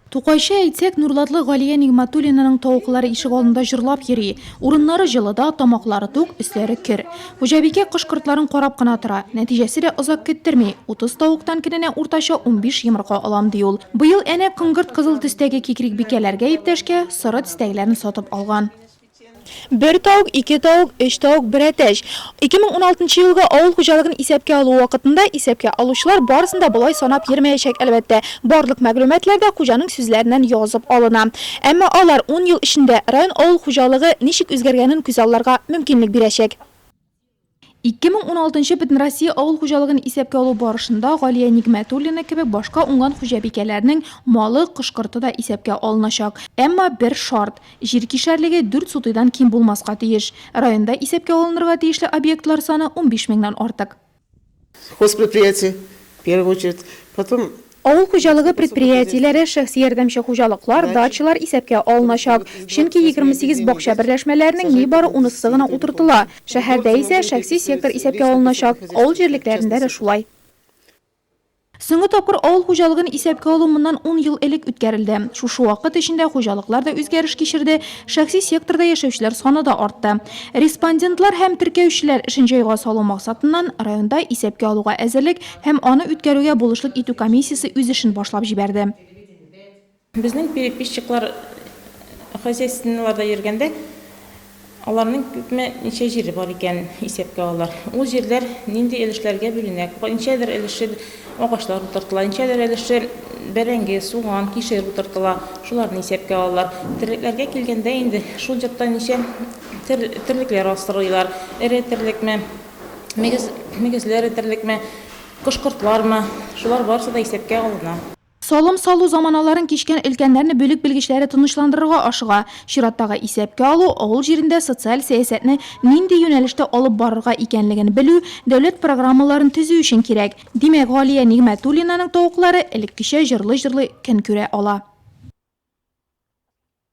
Тукайча әйтсәк, нурлатлы Галия Нигъмәтуллинаның тавыклары ишегалдында җырлап йөри. Урыннары җылыда, тамаклары тук, өсләре көр. Хуҗабикә кош-кортларын карап кына тора. Нәтиҗәсе дә озак көттерми, утыз тавыктан көненә уртача унбиш йомырка алам, ди ул. Быел әнә коңгырт-кызыл төстәге кикрикбикәләргә иптәшкә соры төстәгеләрне сатып алган. Бер тавык, ике тавык, өч тавык, бер әтәч. 2016 елгы авыл хуҗалыгын исәпкә алу вакытында исәпкә алучылар барысын да болай санап йөрмәячәк, әлбәттә. Барлык мәгълүматлар да хуҗаның сүзләреннән язып алына. Әмма алар ун ел эчендә район авыл хуҗалыгы ничек үзгәргәнен күзалларга мөмкинлек бирәчәк. 2016 нчы Бөтенроссия авыл хуҗалыгын исәпкә алу барышында Галия Нигмәтуллина кебек башка уңган хуҗабикәләрнең малы, кош-корты да исәпкә алыначак. Әмма бер шарт, җир кишәрлеге дүрт сутыйдан ким булмаска тиеш. Районда исәпкә алынырга тиешле объектлар саны унбиш меңнән артык. Схозпредприятие, в первую очередь, потом. Авыл хуҗалыгы предприятиеләре, шәхси ярдәмче хуҗалыклар, дачалар исәпкә алыначак, чөнки егерме сигез бакча берләшмәләренең нибары унысы гына утыртыла. Шәһәрдә исә шәхси сектор исәпкә алыначак, авыл җирлекләрендә дә шулай. Соңгы тапкыр авыл хуҗалыгын исәпкә алу моннан ун ел элек үткәрелде. Шушы вакыт эчендә хуҗалыклар да үзгәреш кичерде, шәхси секторда яшәүчеләр саны да артты. Респондентлар һәм теркәүчеләр эшен җайга салу максатыннан, районда Исәпкә алуга әзерлек һәм аны үткәрүгә булышлык итү комиссиясе үз эшен башлап җибәрде. Безнең переписчиклар хозяйственныйларда йөргәндә, аларның күпме, ничә җире бар икән, исәпкә алалар. Ул җирләр нинди өлешләргә бүленә, ничәдер өлеше агачлар утыртыла, ничәдер өлеше бәрәңге, суган, кишер утыртыла, шуларны исәпкә алалар. Терлекләргә килгәндә инде, шул йортта ничә терлекләр асрыйлар, эре терлекме, мөгезле эре терлекме, кош-кортлармы, шулар барысы да исәпкә алына. Салым салу заманаларын кичкән өлкәннәрне бүлек белгечләре тынычландырырга ашыга. Чираттагы исәпкә алу, авыл җирендә социаль сәясәтне нинди юнәлештә алып барырга икәнлеген белү, дәүләт программаларын төзү өчен кирәк. Димәк, Галия Нигъмәтуллинаның тавыклары элеккечә җырлый-җырлый көн күрә ала.